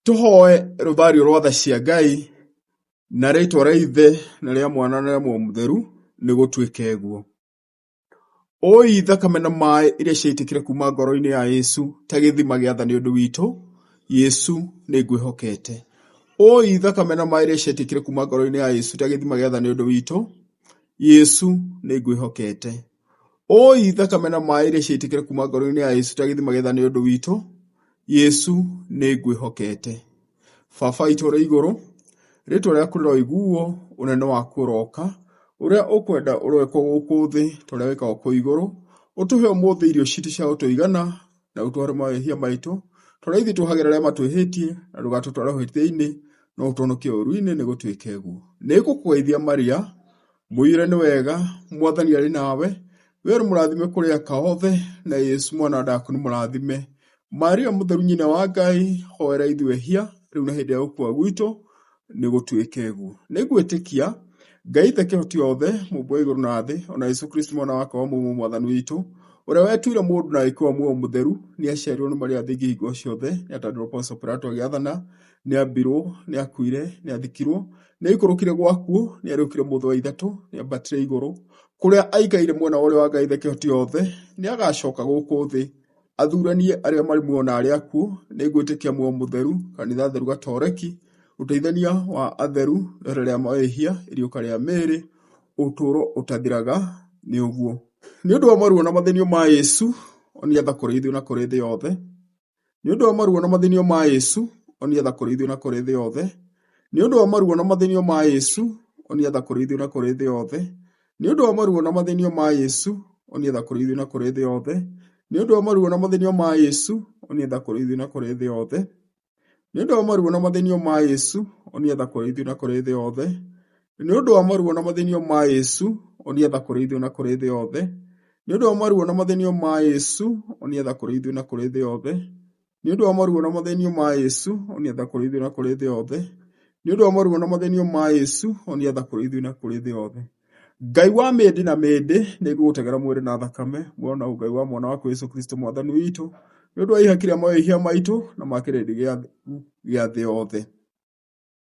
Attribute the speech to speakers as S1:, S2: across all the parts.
S1: Tũhoe rũthario rwa tha cia Ngai, na rĩtwa rĩa Ithe, na rĩa Mwana, na rĩa Muoyo Mũtheru, nĩ gũtuĩke guo. Ũi thakame na maĩ iria ciaitĩkire kuuma ngoro-inĩ ya Yesu ta gĩthima gĩa tha nĩ ũndũ witũ, Yesu nĩ ngwĩhokete. Ũi thakame na maĩ iria ciaitĩkire kuuma ngoro-inĩ ya Yesu ta gĩthima gĩa tha nĩ ũndũ witũ, Yesu nĩ ngwĩhokete. Ũũi thakame na maaĩ iria ciaitĩkire kuma ngoro-inĩ ya Yesu ta gĩthima gĩtha nĩ ũndũ witũ, Yesu nĩ ngwĩhokete. Baba witũ ũrĩ igũrũ, rĩtwa rĩaku rĩroiguo, ũnene waku ũroka, ũrĩa ũkwenda ũrowĩkwo gũkũ thĩ ta ũrĩa wĩkagwo kũu igũrũ. Ũtũhe ũmũthĩ irio citũ cia gũtũigana, na ũtũhore mawĩhia maitũ, ta ũrĩa ithuĩ tuohagĩra arĩa matwĩhĩtie, na ndũgatũtware ũhĩtia-inĩ, no ũtũhonokie ũũru-inĩ nĩ gũtwĩka ũguo. Nĩ ngũkũgeithia Maria, Mũiyũre nĩ wega, Mwathani arĩ nawe, wee ũrĩ mũrathime kũrĩ aka othe, na Yesu mwana wa ndaku nĩ mũrathime. Maria mũtheru nyina wa Ngai, hoera ithuĩ hia, rĩu na hĩndĩ ya gũkua gwitũ, nĩ gũtuĩke guo. Nĩ ngwĩtĩkia, Ngai ithe kĩhoti othe, mũmbo igũrũ na thĩ, o na Yesu Kristo mwana wake wa mũmwe mwathani witũ, ũrĩa wetuire mũndũ na agĩkĩwa muoyo mũtheru, nĩ aciarirwo nĩ Maria thingi hingo ciothe, nĩ atandirwo Ponso Pilato agĩathana, Nĩambirwo, nĩakuire, nĩathikirwo, nĩaikũrũkire gwakuo, nĩariũkire mũthĩ wa ithatũ, nĩambatire igũrũ, kũrĩa aikaire mwena wa ũrĩo wa Ngai Thekehotiyothe, nĩagacoka gũkũ thĩ, athuranie arĩa marĩ muoyo na arĩa akuũ, nĩngwĩtĩkia muoyo mũtheru, kanitha theru gatoreki, ũteithania wa atheru, rĩera rĩa mehia, iriũka rĩa mĩĩrĩ, ũtũũro ũtathiraga, nĩ ũguo. Nĩ ũndũ wa maruo na mathĩnio ma Yesu, onia tha kũrĩ ithuĩ na kũrĩ thĩ yothe. Nĩ ũndũ wa maruo na mathĩnio ma Ĩsu, onia tha kũrĩ ithuĩ na kũrĩ thĩ yothe. Nĩ ũndũ wa maruo na mathĩnio ma Ĩsu, onia tha kũrĩ ithuĩ na kũrĩ thĩ yothe. Nĩ ũndũ wa maruo na mathĩnio ma Ĩsu, onia tha kũrĩ ithuĩ na kũrĩ thĩ yothe. Nĩ ũndũ wa maruo na mathĩnio ma Ĩsu, onia tha kũrĩ ithuĩ na kũrĩ thĩ yothe. Nĩ ũndũ wa maruo na mathĩnio ma Ĩsu, onia tha kũrĩ ithuĩ na kũrĩ thĩ yothe. Nĩ ũndũ wa maruo na mathĩnio ma Yesu, onia tha kũrĩ ithuĩ na kũrĩ thĩ yothe. Nĩ ũndũ wa maruo na mathĩnio ma Yesu, onia tha kũrĩ ithuĩ na kũrĩ thĩ yothe. Nĩ ũndũ wa maruo na mathĩnio ma Yesu, onia tha kũrĩ ithuĩ na kũrĩ thĩ yothe. Nĩ ũndũ wa maruo na mathĩnio ma Yesu, onia tha kũrĩ ithuĩ na kũrĩ thĩ yothe. Ngai wa mĩndĩ na mĩndĩ, nĩ ngũgũtegera mwĩrĩ na thakame, muoyo na ũngai wa mwana waku Yesu Kristo mwathani witũ, nĩ ũndũ wa ihaki rĩa mawĩhia maitũ na ma kĩrĩndĩ gĩa thĩ yothe.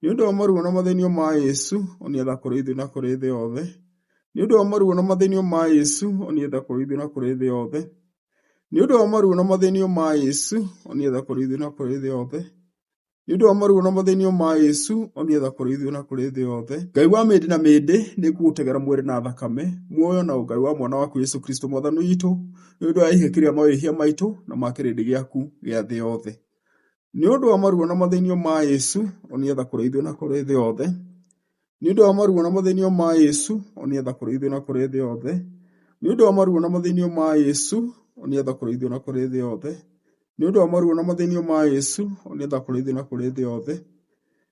S1: Nĩ ũndũ wa maruo na mathĩnio ma Yesu, onia tha kũrĩ ithuĩ na kũrĩ thĩ yothe. Nĩ ũndũ wa maruo na mathĩnio ma Yesu, onia tha kũrĩ ithuĩ na kũrĩ thĩ yothe. Nĩ ũndũ wa maruo na mathĩnio ma Yesu, onia tha kũrĩ ithuĩ na kũrĩ thĩ yothe. Nĩ ũndũ wa maruo na mathĩnio ma Yesu, onia tha kũrĩ ithuĩ na kũrĩ thĩ yothe. Ngai wa mĩndĩ na mĩndĩ, nĩ ngũgũtegera mwĩrĩ na thakame, muoyo na ũngai wa mwana waku Yesu Kristo Mwathani witũ, nĩ ũndũ wa ihĩki rĩa mawĩhia maitũ na ma kĩrĩndĩ gĩaku gĩa thĩ yothe. Nĩ ũndũ wa maruo na mathĩnio ma Yesu, onĩetha kũrĩ ithuĩ na kũrĩ thĩ yothe. Nĩ ũndũ wa maruo na mathĩnio ma Yesu, onĩetha kũrĩ ithuĩ na kũrĩ thĩ yothe. Nĩ ũndũ wa maruo na mathĩnio ma Yesu, onĩetha kũrĩ ithuĩ na kũrĩ thĩ yothe. Nĩ ũndũ wa maruo na mathĩnio ma Yesu, onĩetha kũrĩ ithuĩ na kũrĩ thĩ yothe.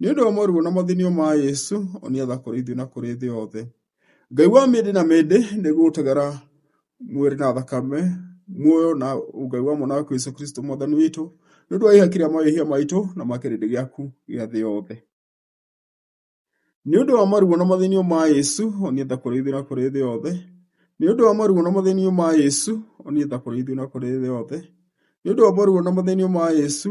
S1: Nĩ ũndũ wa moruo na mathinio ma Yesu, onĩatha kũrĩ ithuĩ na kũrĩ thĩ yothe. Ngai wa mĩndĩ na mĩndĩ nĩgũgũtegera mwĩrĩ na thakame, muoyo na Ngai wa mwana waku Yesu Kristo mwathani witũ, nĩ ũndũ wa ihaki rĩa mawĩhia maitũ na ma kĩrĩndĩ gĩaku gĩa thĩ yothe. Nĩ ũndũ wa maruo na mathinio ma Yesu, onĩatha kũrĩ ithuĩ na kũrĩ thĩ yothe. Nĩ ũndũ wa maruo na mathinio ma Yesu, onĩatha kũrĩ ithuĩ na kũrĩ thĩ yothe. Nĩ ũndũ wa maruo na mathinio ma Yesu,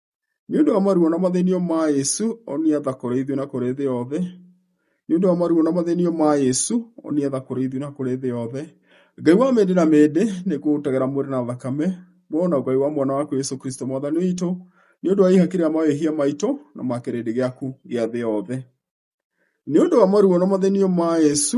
S1: Nĩ ũndũ wa maruo na mathĩnio ma Yesu, onia tha kũrĩ ithuĩ na kũrĩ thĩ yothe. Nĩ ũndũ wa maruo na mathĩnio ma Yesu, onia tha kũrĩ ithuĩ na kũrĩ thĩ yothe. Ngai wa mĩndĩ na mĩndĩ, nĩ ngũgũtegera mwĩrĩ na thakame, muoyo na Ngai wa mwana waku Yesu Kristo mwathani witũ, nĩ ũndũ wa ihaki rĩa mawĩhia maitũ na ma kĩrĩndĩ gĩaku gĩa thĩ yothe. Nĩ ũndũ wa maruo na mathĩnio ma Yesu,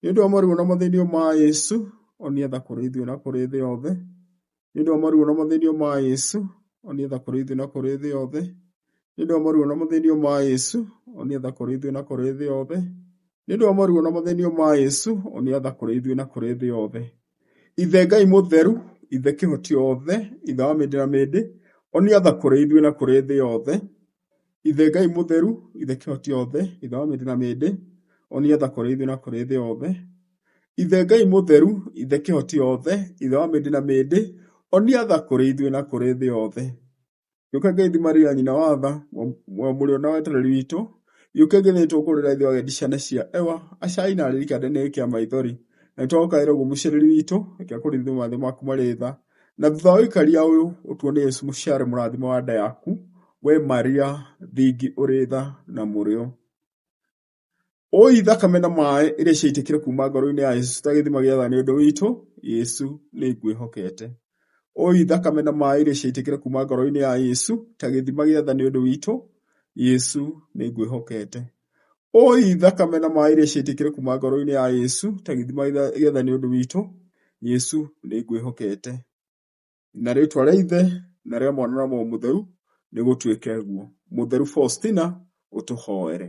S1: Nĩ ũndũ wa moruo na mathĩnio ma Yesu, onia tha kũrĩ ithuĩ na kũrĩ thĩ yothe. Nĩ ũndũ wa moruo na mathĩnio ma Yesu, onia tha kũrĩ ithuĩ na kũrĩ thĩ yothe. Nĩ ũndũ wa moruo na mathĩnio ma Yesu, onia tha kũrĩ ithuĩ na kũrĩ thĩ yothe. Nĩ ũndũ wa moruo na mathĩnio ma Yesu, onia tha kũrĩ ithuĩ na kũrĩ thĩ yothe. Ithe Ngai mũtheru, Ithe kĩhoti othe, Ithe wa mĩndĩ na mĩndĩ, onia tha kũrĩ ithuĩ na kũrĩ thĩ yothe. Ithe Ngai mũtheru, ithe kĩhoti yothe, ithe wa mĩndĩ na mĩndĩ, o nĩgetha kũrĩ ithuĩ na kũrĩ thĩ yothe. Ithe Ngai mũtheru, ithe kĩhoti yothe, ithe wa mĩndĩ na mĩndĩ, o nĩgetha kũrĩ ithuĩ na kũrĩ thĩ yothe. Gĩũka ngeithi Maria nyina wa tha, mũrũ na wetereri witũ, gĩũke ngeithi tũkũrĩra ithuĩ agendi ciana cia Ewa, acai na arĩi kĩande-inĩ gĩkĩ kĩa maithori. Na nĩtwagũkaĩra ũguo mũciarĩri witũ, reke kũrĩ ithuĩ mothe maku marĩ tha, Na thutha wa ũikaria ũyũ ũtuo nĩ Yesu mũciare mũrathimo wa nda yaku, we Maria thingi ũrĩ tha na mũrĩo. Ũi thakame na maĩ iria ciaitĩkire kuma ngoro-inĩ ya Yesu ta gĩthima gĩa tha nĩ ũndũ witũ, Yesu nĩ ngwĩhokete. Ũi thakame na maĩ iria ciaitĩkire kuma ngoro-inĩ ya Yesu ta gĩthima gĩa tha nĩ ũndũ witũ, Yesu nĩ ngwĩhokete. Ũũi thakame na maĩ rĩ ciaitĩkire kuma ngoro-inĩ ya Yesu ta gĩthima gĩetha nĩ ũndũ witũ, Yesu nĩ ngwĩhokete. Na rĩtwa rĩa Ithe na rĩa Mwana na Roho Mũtheru, nĩ gũtuĩke ũguo. Mũtheru Faustina ũtũhoere.